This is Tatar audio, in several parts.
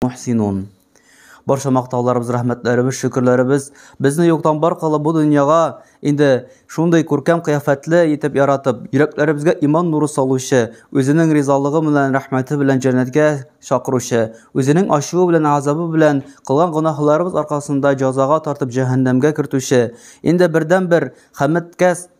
мухсинун. Барча мактауларыбыз, рәхмәтләребез, шөкерләребез безне юктан бар кылып бу дөньяга инде шундый күркәм кыяфәтле итеп яратып, йөрәкләребезгә иман нуры салучы, үзенең ризалыгы белән, рәхмәте белән җәннәткә чакыручы, үзенең ачуы белән, азабы белән кылган гөнаһларыбыз аркасында җазага тартып җәһәннәмгә кертүче, инде бердәнбер хәмәткә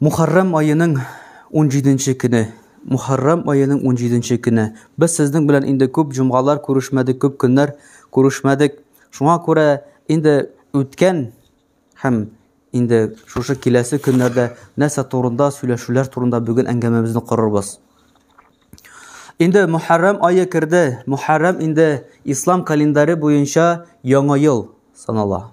Мухаррам аеның унҗиденче көне. Мухаррам аеның унҗиденче көне. Без сезнең белән инде күп җомгалар күрешмәдек, күп көннәр күрешмәдек. Шуңа күрә инде үткән һәм инде шушы киләсе көннәрдә нәрсә турында, сөйләшүләр турында бүген әңгәмәбезне корырбыз. Инде Мухаррам айы керде. Мухаррам инде ислам календаре буенча яңа ел санала.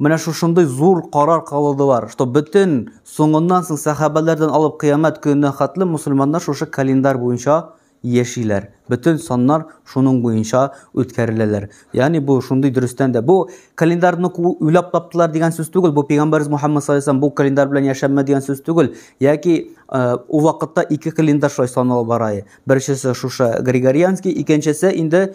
Менә шушындый зур карар кылдылар, что бөтен соңыннан соң сәхабәләрдән алып кыямәт көненә хәтле мусульманнар шушы календарь буенча яшиләр. Бөтен саннар шуның буенча үткәреләләр. Ягъни бу шундый дөрестән дә. Бу календарьны уйлап таптылар дигән сүз түгел. Бу пәйгамбәрбез Мухаммад саллаллаһу бу календарь белән яшәмә дигән сүз түгел. Яки ул вакытта ике календарь шулай саналып бара. Беренчесе шушы Григорианский, икенчесе инде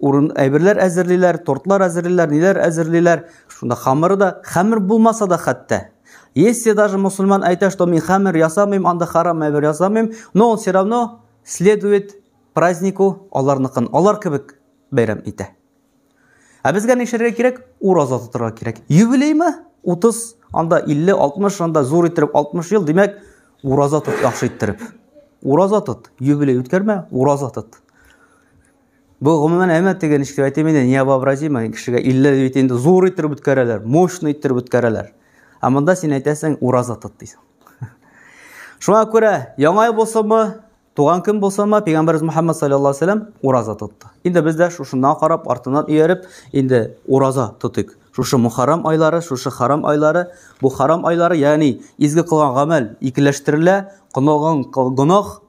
урын әйберләр әзерлиләр, тортлар әзерлиләр, ниләр әзерлиләр. Шунда хамыры да, хамыр булмаса да хәтта. Если даже мусульман әйтә, что мин хамыр ясамыйм, анда харам әйбер ясамыйм, но он все равно следует празднику аларныкын, алар кебек бәйрәм итә. Ә безгә нишәргә кирәк? Ураза тотарга кирәк. Юбилеймы? 30, анда 50, 60, анда зур иттереп 60 ел, димәк, ураза тот яхшы иттереп. Ураза тот, юбилей үткәрмә, ураза тот. Бу гомумән әмма теге ничек әйтим инде, невообразимо кешегә илле бит инде зур иттереп үткәрәләр, мощный иттереп үткәрәләр. Ә монда син әйтәсең, ураза тот дисең. Шуңа күрә яңа ел булсамы, туган көн булсамы, пәйгамбәрбез Мухаммад саллаллаһу алейһи вәсәлләм ураза тотты. Инде без дә шушыннан карап, артыннан ияреп, инде ураза тотыйк. Шушы мухаррам айлары, шушы харам айлары, бу харам айлары, ягъни изге кылган гамәл икеләштерелә, кылган гөнаһ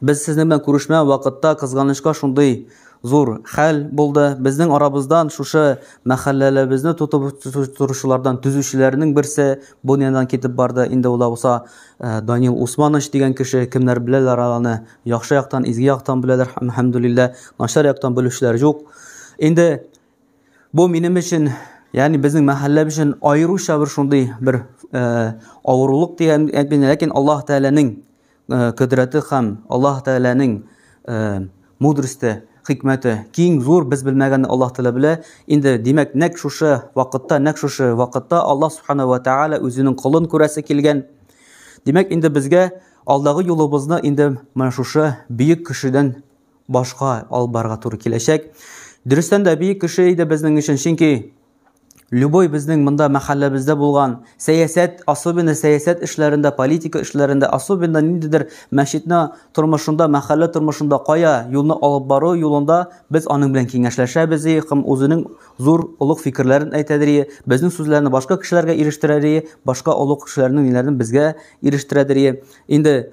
Без сезнең белән күрешмә вакытта кызганычка шундый зур хәл булды. Безнең арабыздан шушы мәхәлләләбезне тотып торучылардан төзүчеләрнең берсе бу дөньядан китеп барды. Инде ул булса э, Данил Усманович дигән кеше, кемнәр беләләр аны, яхшы яктан, изге яктан беләләр, әлхәмдүлилләһ, начар яктан белүчеләр юк. Инде Бу минем өчен, ягъни безнең мәхәллә өчен аеруча бер шундый бер э, авырулык дигән әйтмим, ләкин Аллаһ Тәгаләнең э, кодрәте һәм Аллаһ Тәгаләнең э, мудросте, хикмәте киң, зур, без белмәгәнне Аллаһ Тәгалә белә. Инде димәк, нәкъ шушы вакытта, нәкъ шушы вакытта Аллаһ Субхана ва Тәгалә үзенең колын күрәсе килгән. Димәк, инде безгә алдагы юлыбызны инде менә шушы бөек кешедән башка алып барырга туры киләчәк. Дөрестән дә бөек кеше иде безнең өчен, чөнки любой безнең монда мәхәлләбездә булган сәясәт, особенно сәясәт эшләрендә, политика эшләрендә, особенно ниндидер мәчетне тормышында, мәхәллә тормышында кая юлны алып бару юлында без аның белән киңәшләшәбез и һәм үзенең зур олуг фикерләрен әйтәдер и безнең сүзләрне башка кешеләргә ирештерер и башка олуг кешеләрнең ниләрен безгә ирештерәдер и инде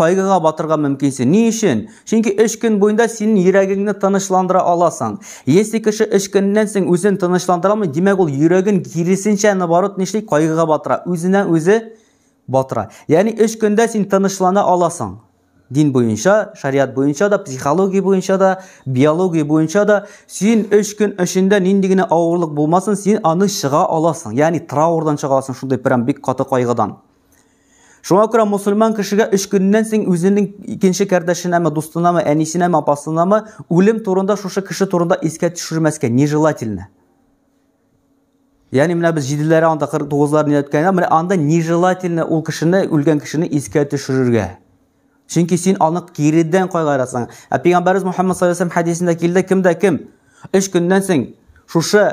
кайгыга батырга мөмкинсең. Ни өчен? Чөнки өч көн буенда син йөрәгеңне тынычландыра аласың. Если кеше өч көннән соң үзен тынычландыра алмый, димәк ул йөрәген киресенчә наоборот нишли, кайгыга батыра, үзенә үзе батыра. Ягъни өч көндә син тынычлана аласың. Дин буенча, шариат буенча да, психология буенча да, биология буенча да син өч көн эчендә нинди генә авырлык булмасын, син аны чыга аласың. Ягъни траурдан чыга аласың, шундый прям бик каты кайгыдан. Шуңа күрә мусульман кешегә өч көннән соң үзенең икенче кардәшенәме, дустынамы, әнисенәме, апасынамы үлем турында шушы кеше турында искә төшермәскә нежелательно. Ягъни менә без җиделәре анда 49 лар нияткәнгә, менә анда нежелательно ул кешене, үлгән кешене искә төшерергә. Чөнки син аны киридән кайгырасың. Ә пәйгамбәрбез Мухаммад саллаллаһу алейһи хәдисендә килде, кемдә кем 3 көннән соң шушы,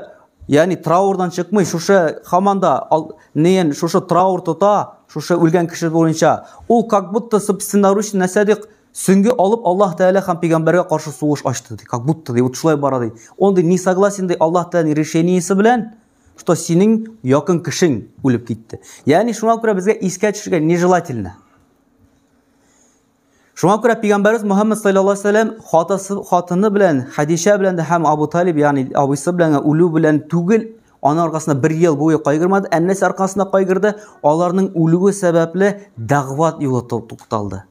ягъни траурдан чыкмый, шушы хаманда неен шушы траур тота, шушы үлгән кеше буенча, ул как будто собственноручно нәрсә ди, сүнге алып Аллаһ Тәгалә һәм пәйгамбәргә каршы сугыш ачты ди, как будто ди, вот шулай бара ди. Он ди, не согласен ди Аллаһ Тәгаләнең решениесе белән, что синең якын кешең үлеп китте. Ягъни шуңа күрә безгә искә төшергә нежелательно. Шуңа күрә пигамбәрбез Мөхәммәд саллаллаһу алейһи вәсәлләм хатасы хатыны белән Хәдичә белән дә һәм Абу Талиб ягъни абыйсы белән үлү белән түгел, аны аркасында бер ел буе кайгырмады, әннәсе аркасында кайгырды, аларның үлүе сәбәпле дәгъват юлы тукталды.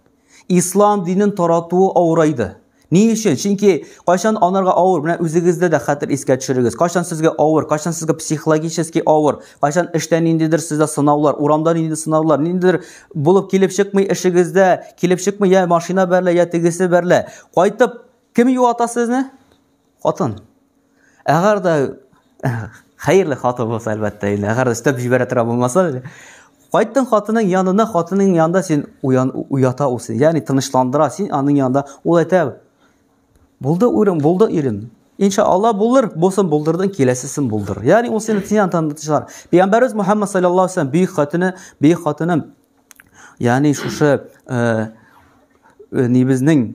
Ислам динен таратуы авырайды. Ни өчен? Чөнки кайчан анарга авыр, менә үзегездә дә хәтер искә төшерегез. Кайчан сезгә авыр, кайчан сезгә психологически авыр, кайчан эштә ниндидер сездә сынаулар, урамда ниндидер сынаулар, ниндидер булып килеп чыкмый эшегездә, килеп чыкмый я машина берлә, я тегесе берлә. Кайтып кем юата сезне? Хатын. Әгәр дә хәерле хатын булса, әлбәттә, инде әгәр дә өстәп җибәрә тора булмаса, кайттың хатының янына, хатының янында син уян уята ул син, ягъни тынычландыра син аның янында. Ул әйтә: "Булды урын, булды ирем. Иншалла булыр, булсын булдырдың, киләсесен булдыр". Ягъни ул сине тиян тандырчылар. Пәйгамбәрбез Мухаммад саллаллаһу алейһи ва бөек хатыны, бөек хатыны, ягъни шушы э, э, нибезнең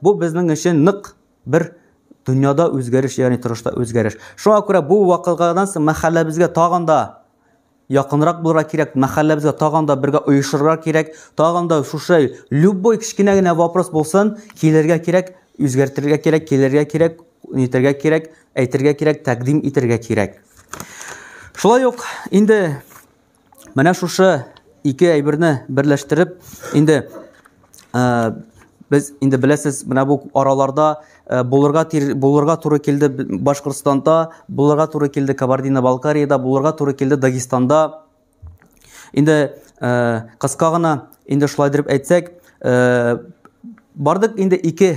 Бу безнең өчен нык бер дөньяда үзгәреш, ягъни торышта үзгәреш. Шуңа күрә бу вакыйгадан соң мәхәлләбезгә тагын да якынрак булырга кирәк, мәхәлләбезгә тагын да бергә оешырга кирәк, тагын да шушы любой кечкенә генә вопрос булсын, килергә кирәк, үзгәртергә кирәк, килергә кирәк, нитергә кирәк, әйтергә кирәк, тәкъдим итергә кирәк. Шулай ук инде Менә шушы ике әйберне берләштереп, инде ә, без инде беләсез, менә бу араларда ә, булырга тир, булырга туры килде Башкортстанда, булырга туры килде Кабардино-Балкариядә, булырга туры килде Дагестанда. Инде ә, кыска гына инде шулай дип әйтсәк, ә, бардык инде ике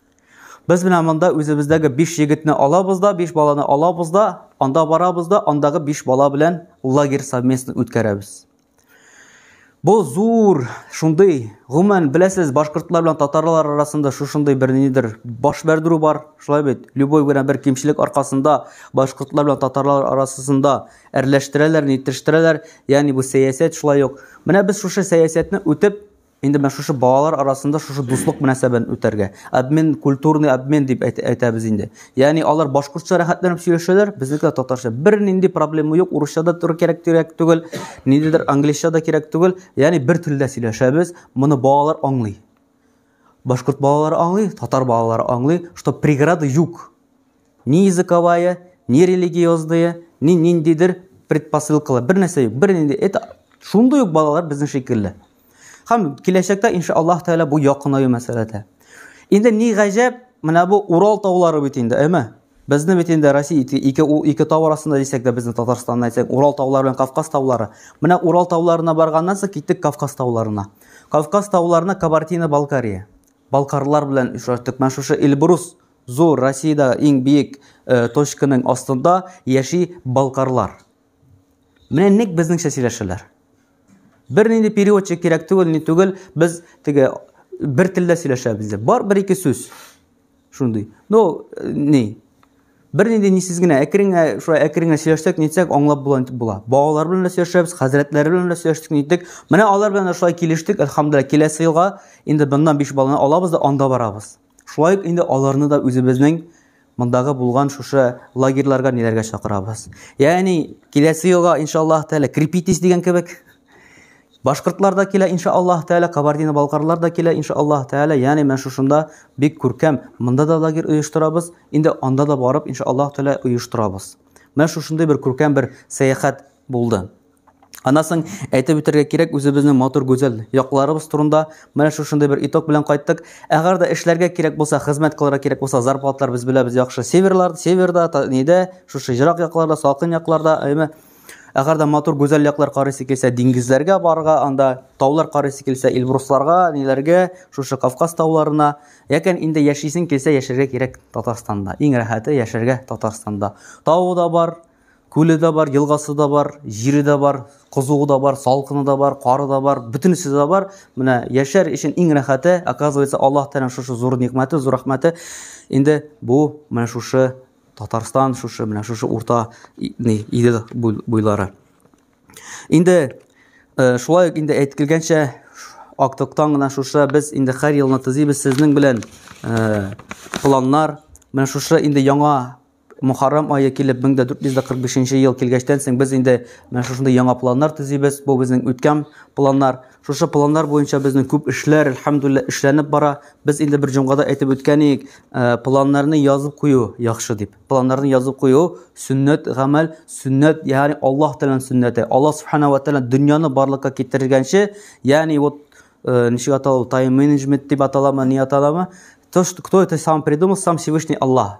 Без менә монда үзебездәге 5 егетне алабыз да, 5 баланы алабыз да, анда барабыз да, андагы 5 бала белән лагерь совместно үткәрәбез. Бу зур, шундый, гомумән, беләсез, башкортлар белән татарлар арасында шушындый бер нидер баш бәрдерү бар, шулай бит. Любой генә бер кимчелек аркасында башкортлар белән татарлар арасында әрләштерәләр, нитештерәләр. Ягъни бу сәясәт шулай ук. Менә без шушы сәясәтне үтеп Инде менә шушы балалар арасында шушы дуслык мөнәсәбәтен үтәргә. Обмен, культурный обмен дип әйтәбез инде. Ягъни алар башкортча рәхәтләнеп сөйләшәләр, безнекеләр татарча. Бернинди проблема юк, урысча да туры кирәк кирәк түгел, ниндидер английча да кирәк түгел. Ягъни бер телдә сөйләшәбез, моны балалар аңлый. Башкорт балалары аңлый, татар балалары аңлый, что преграды юк. Ни языковая, ни религиозная, ни ниндидер предпосылкалар, бер нәрсә юк. Бер инде это шундый ук балалар безнең шикелле. Хәм киләчәктә инша Аллаһ Тәгалә бу якынаю мәсьәләдә. Инде ни гаҗәп, менә бу Урал таулары бит инде, әйме? Безне бит инде Россия ике, ике, ике тау арасында дисәк дә безне Татарстанны әйтсәк, Урал таулары белән Кавказ таулары. Менә Урал тауларына барганнан соң киттек Кавказ тауларына. Кавказ тауларына Кабартина Балкария. Балкарлар белән шушы Эльбрус Зур Россиядә иң биек точканың астында яши балкарлар. Менә ник безнеңчә сөйләшәләр. Бер нинди переводчик кирәк түгел, ни түгел, без теге бер телдә сөйләшәбез. Бар бер ике сүз. Шундый. Ну, ни? Бер нинди нисез генә әкрен генә, шулай әкрен генә сөйләшсәк, нитсәк, аңлап була итеп була. Балалар белән дә сөйләшәбез, хәзрәтләр белән дә сөйләштек, ниттек. Менә алар белән дә шулай килештек, әлхәмдулилла, киләсе елга инде моннан 5 баланы алабыз да анда барабыз. Шулай ук инде аларны да үзебезнең мондагы булган шушы лагерьларга ниләргә чакырабыз. Ягъни киләсе елга иншаллаһ тәала крепитесь дигән кебек башкортлар да килә иншаллаһ тәала, кабардино-балкарлар да килә иншаллаһ тәала. Ягъни мен шушында бик күркәм монда да лагерь оештырабыз, инде анда да барып иншаллаһ тәала оештырабыз. Менә шушындый бер күркәм бер сәяхәт булды. Анасын әйтеп үтәргә кирәк үзебезнең матур гүзәл якларыбыз турында. Менә шушындый бер итог белән кайттык. Әгәр дә эшләргә кирәк булса, хезмәт кылырга кирәк булса, зарплатлар без беләбез яхшы. Северлар, северда, та, нидә, шушы ерак якларда, салкын якларда, әйме. Әгәр дә матур гүзәл яклар карыйсы килсә, диңгезләргә барырга, анда таулар карыйсы килсә, Эльбрусларга, ниләргә, шушы Кавказ тауларына. Якен инде яшисең килсә, яшәргә кирәк Татарстанда. Иң рәхәте яшәргә Татарстанда. Тау да бар, Күле дә бар, елгасы да бар, җире дә бар, кызуы да бар, салкыны да бар, кары да бар, бөтенесе дә бар. Менә яшәр өчен иң рәхәте, оказывается, Аллаһ Тәгаләнең шушы зур никмәте, зур рәхмәте. Инде бу менә шушы Татарстан, шушы менә шушы урта ни Идел буйлары. Инде э, шулай ук инде әйтелгәнчә актыктан гына шушы без инде һәр елны төзибез сезнең белән э, планнар. Менә шушы инде яңа Мөхәррәм ае килеп 1445 ел килгәчтән соң без инде менә шушындый яңа планнар төзибез. Бу безнең үткән планнар. Шушы планнар буенча безнең күп эшләр, әлхәмдүлилләһ, эшләнеп бара. Без инде бер җомгада әйтеп үткән идек, э, планнарны язып кую яхшы дип. Планнарны язып кую сөннәт гамәл, сөннәт, ягъни Аллаһ Тәгаләнең сөннәте. Аллаһ Субхана ва Тәгалә дөньяны барлыкка китергәнче, ягъни вот э, ничек атала ул, тайм-менеджмент дип аталамы, ни аталамы, то, что кто это сам придумал, сам Всевышний Аллаһ.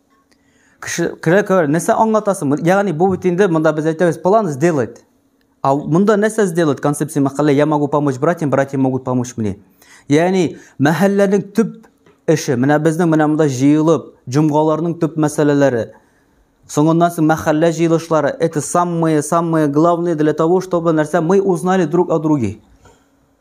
кеше керә керә нәрсә аңлатасың ягъни бу бит инде монда без әйтәбез план сделать а монда нәрсә сделать концепция мәхәллә я могу помочь братьям братья могут помочь мне ягъни мәхәлләнең төп эше менә безнең менә монда җыелып җомгаларның төп мәсьәләләре соңыннан соң мәхәллә җыелышлары это самые самые главные для того чтобы нәрсә мы узнали друг о друге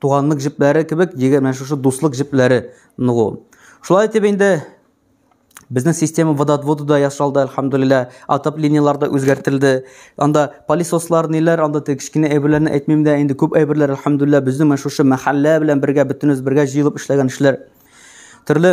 туганлык җепләре кебек егет менә шушы дуслык җепләре ныгу шулай итеп инде Безнең система водоотводы да ясалды, әлхәмдулилла. Атап линияләр дә үзгәртелде. Анда полисослар ниләр, анда тек кечкенә әйберләрне әйтмим дә, инде күп әйберләр әлхәмдулилла безнең менә шушы мәхәллә белән бергә бөтенебез бергә җыелып эшләгән эшләр. Төрле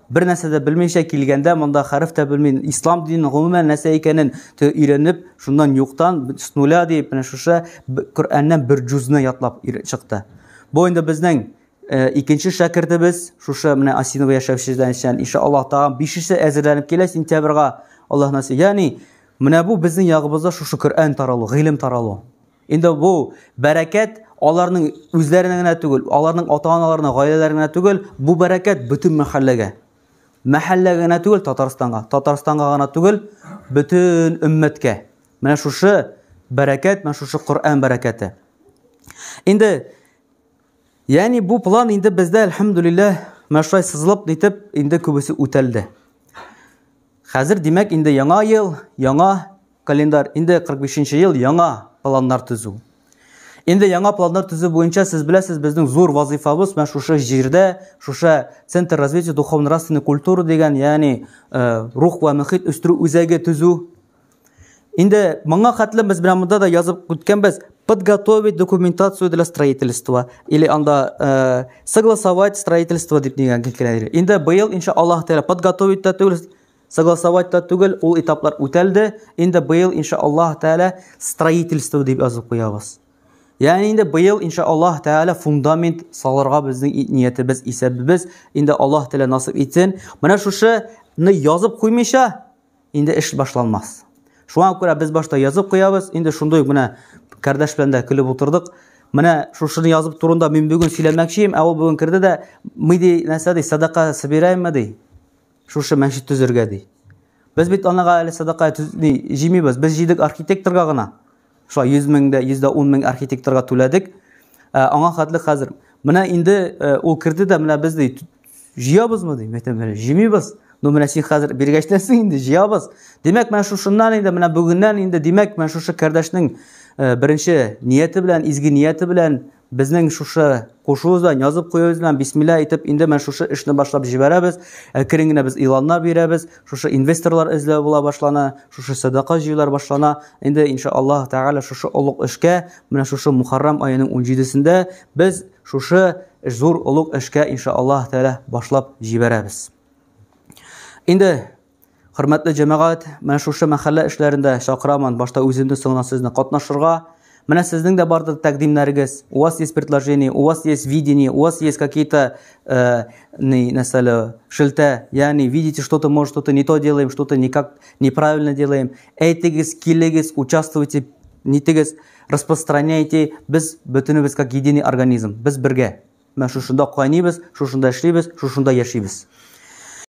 бер нәрсә дә белмичә килгәндә монда хәреф тә белми ислам динен гомумән нәрсә икәнен өйрәнеп шуннан юктан с нуля дип менә шушы коръәннән бер җүзне ятлап чыкты бу инде безнең э, икенче шәкертебез шушы менә осинова яшәүчедән икән инша аллаһ тагын бишесе әзерләнеп килә сентябрьга аллаһ насыйп ягъни менә бу безнең ягыбызда шушы коръән таралу гыйлем таралу Инде бу бәрәкәт аларның үзләренә генә түгел, аларның ата-аналарына, гаиләләренә генә түгел, бу бәрәкәт бөтен мәхәлләгә. Мәхәллә генә түгел Татарстанга, Татарстанга гына түгел, бөтен өммәткә. Менә шушы бәрәкәт, менә шушы Коръән бәрәкәте. Инде Яни бу план инде бездә, әлхәмдулиллаһ, мәшәй сызылып дитеп, инде күбесе үтәлде. Хәзер, димәк, инде яңа ел, яңа календарь, инде 45 нче ел, яңа планнар төзү. Инде яңа планнар төзү буенча сез беләсез, безнең зур вазыйфабыз менә шушы җирдә, шушы Центр развития духовно-нравственной культуры дигән, ягъни э, рух ва мөхит үстерү үзәге төзү. Инде моңа хәтле без белән монда да язып үткәнбез, подготовить документацию для строительства или анда э, согласовать строительство дип дигән килгән. Инде быел инша Аллаһ тәгалә подготовить та түгел, согласовать та түгел, ул этаплар үтәлде. Инде быел инша Аллаһ тәгалә строительство дип язып куябыз. Ягъни инде быел инша Аллаһ тәгалә фундамент салырга безнең ниятебез, исәбебез инде Аллаһ тәгалә насыйп итсен. Менә шушы ны язып куймыйча, инде эш башланмас. Шуңа күрә без башта язып куябыз, инде шундый ук менә кардәш белән дә көлеп утырдык. Менә шушыны язып турында мин бүген сөйләмәкчем, ә ул бүген керде дә, ми ди, нәрсә ди, садака собираемы ди, шушы мәчет төзергә ди. Без бит анага әле садака җыймыйбыз, без җыйдык архитекторга гына. Шулай 100 мең дә, 110 мең архитекторга түләдек. Ә, аңа хәтле хәзер. Менә инде ә, ул керде дә, менә без ди, җыябызмы ди, мәктәп белән җимибез. Ну менә син хәзер биргәчтән соң инде җыябыз. Димәк, менә шушыннан инде, менә бүгеннән инде, димәк, менә шушы кардәшнең ә, беренче нияте белән, изге нияте белән Безнең шушы кушуыбыз белән, язып куюыбыз белән, бисмилла әйтеп, инде менә шушы эшне башлап җибәрәбез. Әкрен генә без иланнар бирәбез. Шушы инвесторлар эзләү була башлана, шушы сәдака җыюлар башлана. Инде иншаллаһ тәгалә шушы олуг эшкә, менә шушы Мухаррам аеның 17-сендә без шушы зур олуг эшкә иншаллаһ тәгалә башлап җибәрәбез. Инде Хөрмәтле җәмәгать, менә шушы мәхәллә эшләрендә чакырамын, башта үземне, соңыннан сезне катнашырга. Менә сезнең дә бардыр тәкъдимнәрегез. У вас есть предложение, у вас есть видение, у вас есть какие-то э, нәрсәле шелтә, ягъни видите что-то, может что-то не то делаем, что-то никак неправильно делаем. Әйтегез, килегез, участвуйте, нитегез, распространяйте. Без бөтенебез как единый организм. Без бергә. Менә шушында кайнибез, шушында эшлибез, шушында яшибез.